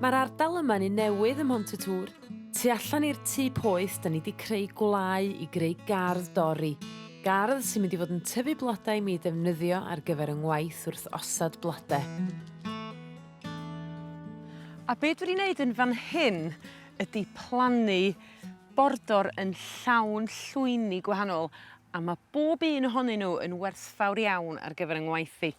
Mae'r ardal yma'n un newydd ym Mhont-y-tŵr. Tu allan i'r tŷ poeth 'dan ni 'di creu gwlâu i greu gardd dorri. Gardd sy'n mynd i fod yn tyfu blodau i mi ddefnyddio ar gyfer 'y ngwaith wrth osod blode. A be' dwi 'di neud yn fan hyn ydi plannu bordor yn llawn llwyni gwahanol a ma' bob un ohonyn n'w yn werthfawr iawn ar gyfer 'y ngwaith i.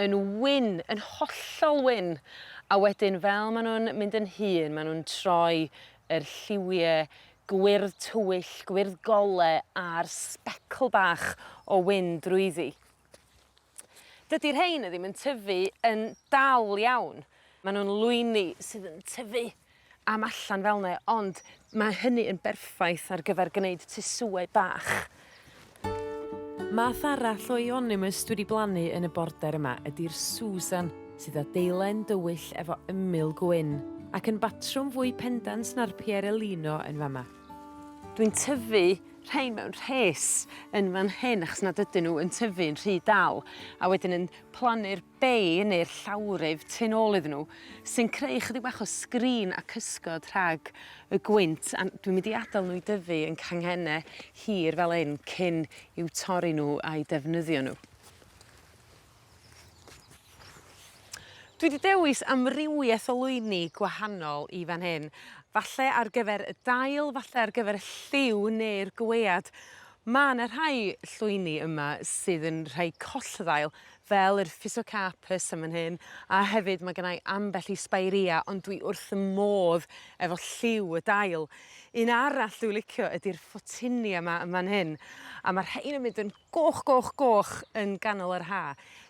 yn wyn, yn hollol wyn, a wedyn fel ma' nw'n mynd yn hŷn ma' nw'n troi yr lliwie gwyrdd tywyll, gwyrdd gole a'r sbecl bach o wyn drwyddi. Dydi rhein y ddim yn tyfu yn dal iawn, ma' nw'n lwyni sydd yn tyfu am allan fel 'ne ond ma' hynny yn berffaith ar gyfer gneud tŷ sioe bach. Math arall o euonymus dwi 'di blannu yn y border yma ydi'r Susan sydd â deilen dywyll efo ymyl gwyn ac yn batrwm fwy pendant na'r Pierelino yn fa' 'ma. Dwi'n tyfu rhein mewn rhes yn fan hyn achos nad ydyn n'w yn tyfu'n rhy dal a wedyn yn plannu'r bay neu'r llawryf tu nôl iddyn nhw sy'n creu ychydig bach o screen a cysgod rhag y gwynt a dwi'n mynd i adael nhw i dyfu yn canghenne hir fel hyn cyn i'w torri nhw a'u defnyddio nhw. Dwi 'di dewis amrywieth o lwyni gwahanol i fan hyn falle ar gyfer y dail falle ar gyfer y lliw neu'r gwead. Ma' 'na rhai llwyni yma sydd yn rhai collddail fel yr Physocarpus yn fan hyn a hefyd ma' gynna i ambell i Spirea ond dwi wrth 'y modd efo lliw y dail. Un arall dwi licio ydi'r Photinia 'ma yn fan hyn a ma' rhein yn mynd yn goch goch goch yn ganol yr Ha.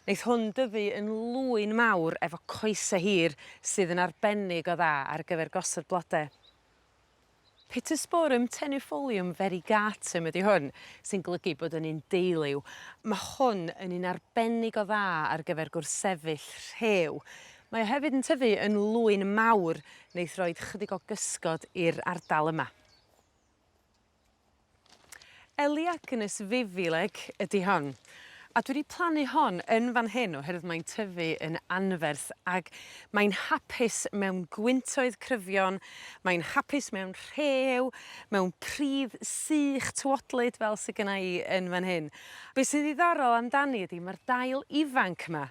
Neith hwn dyfu yn lwyn mawr efo coese hir sydd yn arbennig o dda ar gyfer gosod blode. Pittosporum tenufolium variegatum ydi hwn, sy'n golygu bod yn un deuliw. Ma' hwn yn un arbennig o dda ar gyfer gwrthsefyll rhew. Mae o hefyd yn tyfu yn lwyn mawr neith roid chydig o gysgod i'r ardal yma. Elaeagnus vivileg ydi hon a dwi 'di plannu hon yn fan hyn oherwydd mae'n tyfu yn anferth ag mae'n hapus mewn gwyntoedd cryfion mae'n hapus mewn rhew mewn pridd sych tywodlyd fel sy gynna i yn fan hyn. Be' sy'n ddiddorol amdani ydi ma'r dail ifanc 'ma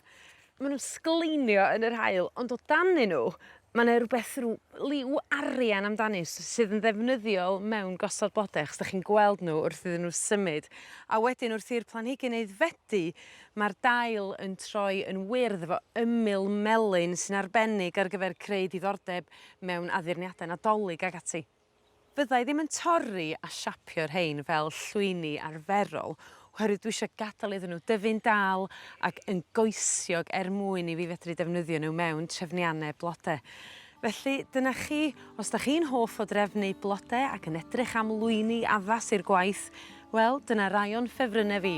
Ma' nw'n sgleinio yn yr haul ond o danyn n'w ma' 'ne rwbeth rw liw arian amdanyn s- sydd yn ddefnyddiol mewn gosod blode achos 'dach chi'n gweld n'w wrth iddyn n'w symud a wedyn wrth i'r planhigyn aeddfedu ma'r dail yn troi yn wyrdd efo ymyl melyn sy'n arbennig ar gyfer creu diddordeb mewn addurniade Nadolig ag ati. Fydda i ddim yn torri a siapio rhein fel llwyni arferol oherwydd dwi isio gadel iddyn nhw dyfu'n dal ac yn goesiog er mwyn i fi fedru defnyddio nhw mewn trefnianne blode. Felly dyna chi, os 'dach chi'n hoff o drefnu blode ac yn edrych am lwyni addas i'r gwaith, wel, dyna rai o'n ffefrynne fi.